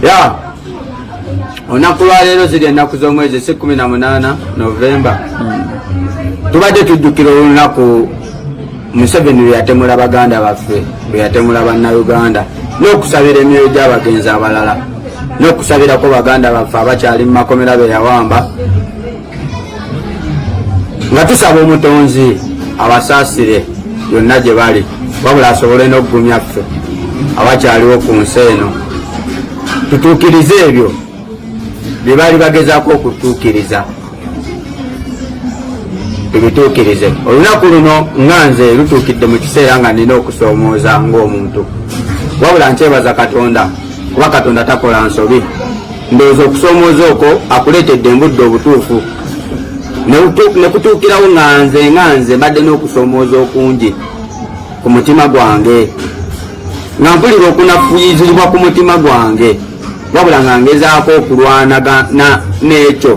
ya olunaku lwaleero ziri ennaku z'omwezi si kumi na munaana novemba hmm. tubadde tujjukira olunaku museveni lweyatemula baganda baffe lweyatemula bannauganda n'okusabira emyoyo gy'abagenzi abalala n'okusabirako baganda baffe abakyali mu makomera beyawamba nga tusaba omutonzi abasaasire yonna gye bali wabula asobole n'okugumya ffe abakyaliwo ku nsi eno tutuukirize ebyo bye baali bagezaako okutuukiriza tubituukirize olunaku luno nga nze lutuukidde mu kiseera nga nina okusoomooza ng'omuntu wabula nkyebaza katonda kuba katonda takola nsobi ndowooza okusomooza okwo akuleetedde embudde obutuufu nekutuukirawo nga nze nga nze mbadde n'okusomooza okungi ku mutima gwange nga mpulira okunafuyizibwa ku mutima gwange wabula nga ngezaako okulwanagana n'ekyo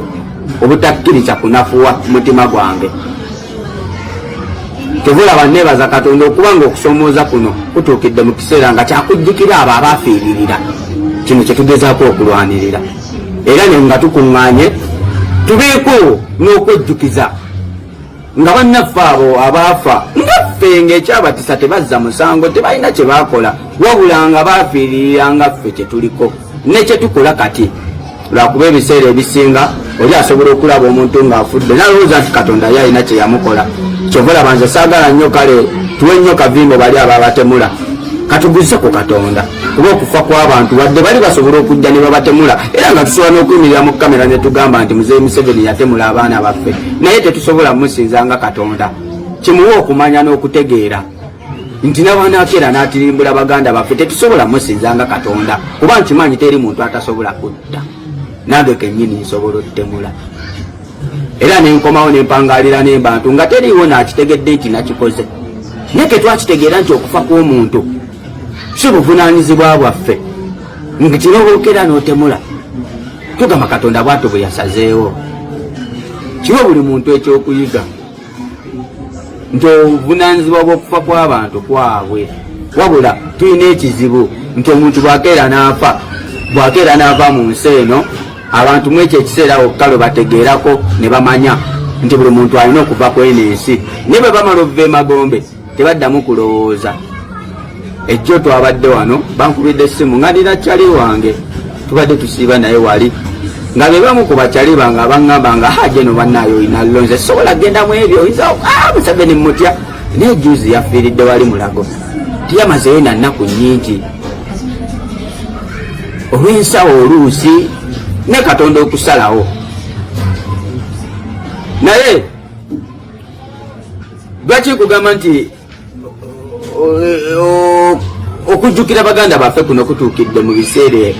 obutakkiriza kunafuwa mutima gwange tebulaba nebaza katonda okuba nga okusomooza kuno kutuukidde mu kiseera nga kyakujjukira abo abaafiiririra kino kyetugezaako okulwanirira era ne nga tukuŋŋaanye tubeeko n'okwejjukiza nga bannaffe abo abaafa ngaffe ng'ekyabatisa tebazza musango tebalina kye baakola wabula nga baafiiririra nga ffe kye tuliko ne kye tukola kati lwakuba ebiseera ebisinga oli asobola okulaba omuntu ng'afudde nalowooza nti katonda ye alina kye yamukola kyova olaba nze saagala nnyo kale tuwe nnyo kavimbo bali ababatemula katuguzze ku katonda kuba okufa kw'abantu wadde bali basobola okujja ne babatemula era nga tusobola n'okuyimirira mu kamera ne tugamba nti muzeeyi museveni yatemula abaana baffe naye tetusobola musinza nga katonda kimuwa okumanya n'okutegeera nti nabanakeera natirimbula baganda baffe tetusobola musinza nga katonda kuba nkimanyi teri muntu atasobola kutta nange kenyini nsobola otemula era nenkomawo nempangalira nembantu nga teriiwo nakitegedde nti nakikoze naye ketwakitegeera nti okufa kw'omuntu si buvunanyizibwa bwaffe nti kirobookera notemula tugamba katonda bwatu bwe yasazeewo kiwe buli muntu ekyokuyiga nti obuvunanyizibwa bw'okufa kw'abantu kwabwe wabula tulina ekizibu nti omuntu bwakeera n'afa bwakeera n'ava mu nsi eno abantu mu ekyo ekiseera wokka lwe bategeerako ne bamanya nti buli muntu alina okuva kw'eno ensi naye bwe bamala obuva emagombe tebaddamu kulowooza ejjo twabadde wano bankubidde essimu nga nina cali wange tubadde tusiiba naye wali nga bebamu ku bacali bange abaŋŋamba nga haje no bannaayo olina lonze sobola kgenda mu ebyo oyinza ah, museveni mutya naye juzi yafiiridde wali mulago tiyamazeyo na nnaku nnyingi olw'ensawo oluusi ne katonda okusalawo naye lwaki nkugamba nti okujjukira baganda baffe kuno kutuukidde mu biseera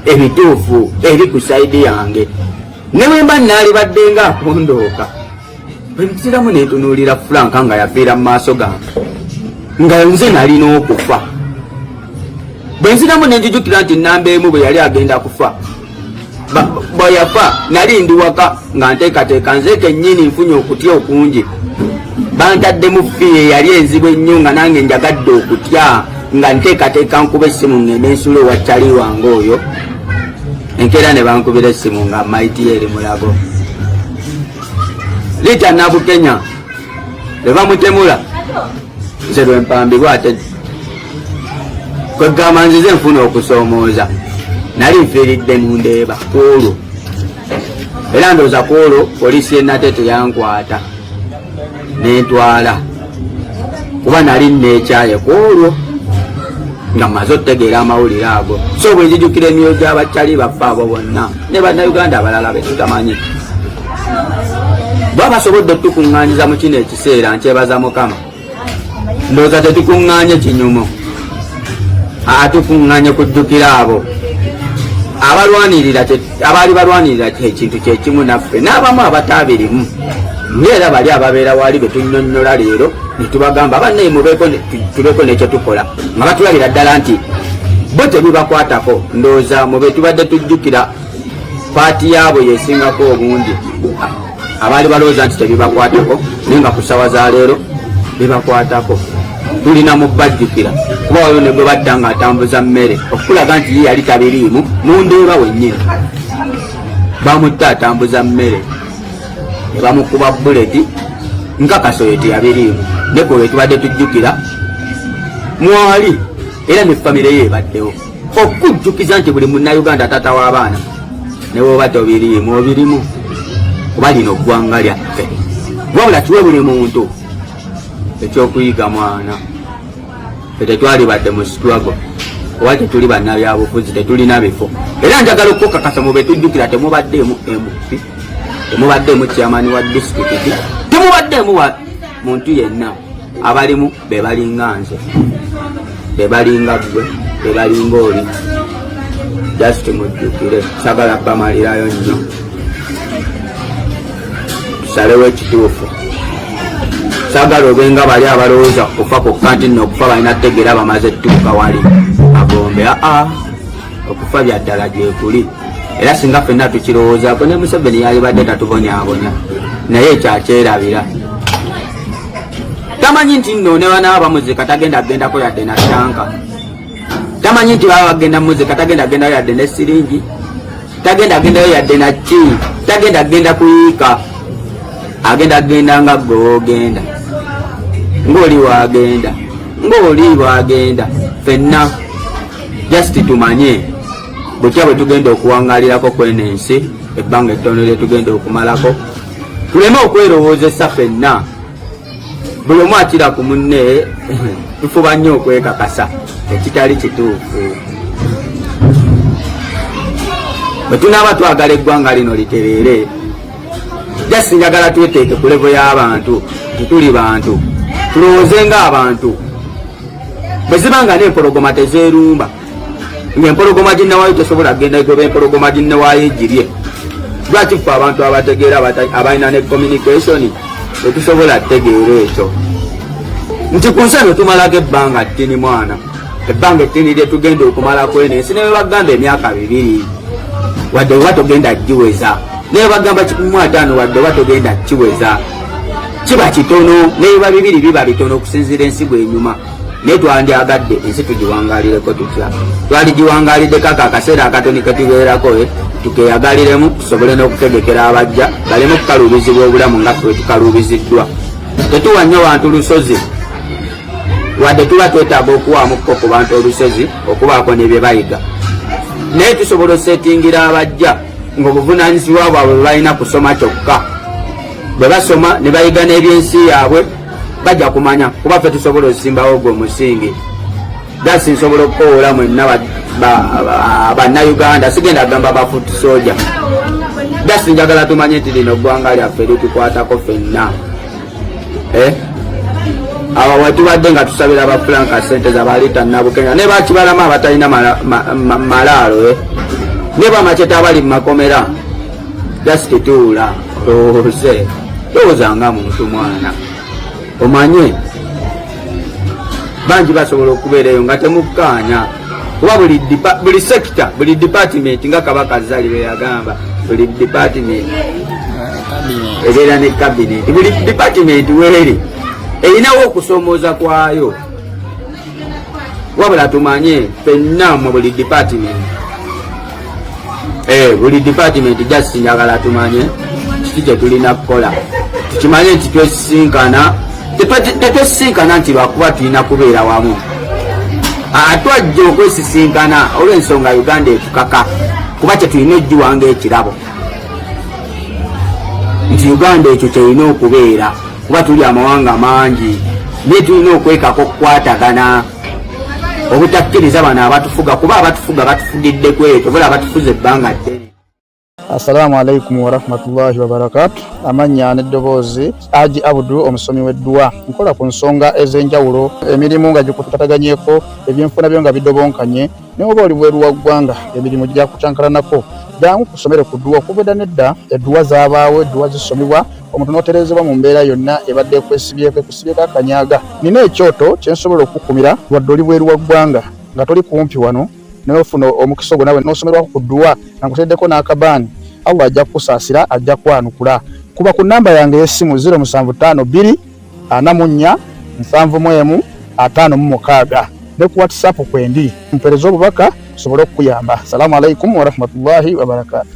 ebituufu eri ku saidi yange ne bwe mba nnaalibadde nga akondooka bwe nsiramu neetunuulira fulanka nga yafiira mu maaso gange nga nze nalina okufa bwe nziramu ne njijukira nti nnamba emu bwe yali agenda kufa bweyafa nali ndi waka nga nteekateeka nze kennyini nfunye okutya okungi bantaddemu fiye yali enzibu ennyo nga nange njagadde okutya nga nteekateeka nkuba essimu ngende ensula ewa cali wange oyo enkeera ne bankubira essimu nga maiti eri mulago liita nabukenya ne bamutemula nze lwempambibwa ate kwegamba nzize nfuna okusoomooza nali nfiiridde mu ndeeba kwolwo era ndooza kwolwo poliisi yenate teyankwata nentwala kuba nali nekyaye kwolwo nga maze otegeera amawulire ago so bwe njijukira emyoyo gy'abakyali baffe abo bonna ne bannayuganda abalala be tutamanyi baba basobodde otukuŋŋanyiza mu kino ekiseera nkyebaza mukama ndowooza tetukuŋŋaanye kinyumu atukuŋŋaanye kujjukira abo abalwanirira abaali balwanirira ekintu kyekimu naffe n'abamu abataabirimu ngaera bali ababeera waali betunyonyola leero netubagamba banaye mubeeko nekyetukola nga batulabira ddala nti bo tebibakwatako ndowooza mubetubadde tujjukira paati yaabwe yesingako obungi abaali balowooza nti tebibakwatako naye nga ku ssawa za leero bibakwatako tulina mubajjukira kuba wayo ne gwe badda nga atambuza mmere okukulaga nti ye yali tabiriimu mu ndeeba wennyini bamutta atambuza mmere ne bamukuba buleti nkakasa oyo teyabiriimu nekoyo tubadde tujjukira mwali era ne famire ye ebaddewo okujjukiza nti buli munnayuganda taata w'abaana ne bwoba tobiriimu obirimu kuba lino ggwanga lyaffe wabula kiwe buli muntu ekyokuyiga mwana etetwalibadde mu situlago oba tetuli bannabyabufuzi tetulina bifo era njagala okukakasa mu betujjukira temubaddeemu mp temubaddeemu chairman wa disitulikiti temubaddeemu wa muntu yenna abalimu bebalinga nze bebalinga gwe bebalinga oli just mujjukire sagala bamalirayo nnyo tusalewo ekituufu sagala obenga bali abalowooza kufa kokka nti nno okufa balina tegeera bamaze tuuka wali agombe aa okufa byaddala gyekuli era singa fenna tukirowoozako ne museveni yalibadde tatubonyabonya naye ekyakyerabira tamanyi nti nno ne bana bamuzika tagenda agendako yadde na tanka tamanyi nti baba bagenda muzika tagenda agendayo yadde ne siringi tagenda agendayo yadde na ki tagenda agenda kuyiika agenda agenda nga gogenda ng'oli wagenda ng'oli wagenda fenna just tumanye butya bwe tugenda okuwangalirako kweno ensi ebbanga ettono lye tugenda okumalako tuleme okwerowoozesa fenna buli omu akira ku munne tufuba nnyo okwekakasa ekitali kituufu bwe tunaaba twagala eggwanga lino litereere jasi njagala tweteeke ku levo y'abantu tetuli bantu tulowooze ng'abantu bwe ziba nga n'empologoma tezeerumba ng'empologoma ginnewaayo tesobola kugenda egoba empologoma ginnewaayo egirye lwaki ffe abantu abategeera abalina ne communication tetusobola tegeera ekyo nti ku nsi eno tumalako ebbanga ttini mwana ebbanga ettini lye tugenda okumalako eno ensi ne bebagamba emyaka bibiri wadde oba togenda giweza naye bagamba kikumu ataano wadde oba togenda kiweza kiba kitono naye ba bibiri biba bitono okusinziira ensi bwenyuma naye twandyagadde ensi tugiwangalireko tutya twaligiwangaliddeko ako akaseera akatoni ketubeerako eh, tukeyagaliremu tusobole n'okutegekera abajja baleme okukaluubizibwa obulamu nga fe tukaluubiziddwa tetuwa nnyo bantu lusozi wadde tuba twetaaga okuwamukko ku bantu olusozi okubaako ne bye bayiga naye tusobola osetingira abajja ng'obuvunanyizibwa bwabwe bwebalina kusoma kyokka bwe basoma ne bayiga n'ebyensi yaabwe bajja kumanya kuba ffe tusobola osimbawo ogwo omusingi dasi nsobola okukowoola mwenna bannauganda sigenda kugamba bafut soja dasi njagala tumanye nti lino ggwanga lyaffe litukwatako fenna eh? awo wetubadde nga tusabira ba frank sente zabaliita nabukenya ne bakibalama abatalina malaalo eh? ne bamaceta abali mu makomera just tuula olowooze lowooza nga muntu mwana omanye bangi basobola okubeerayo nga temukkaanya kuba buli sekita buli dipatimenti nga kabaka zali beyagamba buli dipatimenti ebeera ne kabineti buli dipatimenti weeri erinawo okusomooza kwayo wabula tumanye fenna mu buli department eh, buli department just njagala tumanye kiki kyetulina kukola tukimanye nti twesisinkana tetwesisinkana nti lwakuba tulina kubeera wamu atwajja okwesisinkana olwensonga uganda etukaka kuba kyetulina ojjiwanga ekirabo nti uganda ekyo kyerina okubeera kuba tuli amawanga mangi naye tulina okwekaka okukwatagana obutakkiriza bano abatufuga kuba abatufuga batufugidde kwekyo bula abatufuza ebbanga ddene assalamu alaikum warahmatullahi wabarakatu amannya n'eddoboozi aji abudu omusomi w'edduwa nkola ku nsonga ez'enjawulo emirimu nga gikutataganyeko ebyenfuna byo nga bidobonkanye naye oba oli bweru wa ggwanga emirimu gyakucankalanako jangu ku ssomero ku dduwa okuva edda nedda edduwa zabaawo edduwa zisomebwa omuntu n'otereezebwa mu mbeera yonna ebadde ekwesibyeko ekusibyeko akanyaaga nina ekyoto kye nsobola okukukumira wadde oli bweru wa ggwanga nga toli kumpi wano naye ofuna omukisa ogwo nawe n'osomerwako ku dduwa nga nkuteeddeko n'akabaani allah ajja kukusaasira ajja kwanukula kuba ku nnamba yange ey'essimu 075 2 ana mu nnya nsanvu mu emu ataano mu mukaaga ne ku whatsapp kwendi mpereza obubaka tusobole okukuyamba salamu alaikum warahmatullahi wabarakatu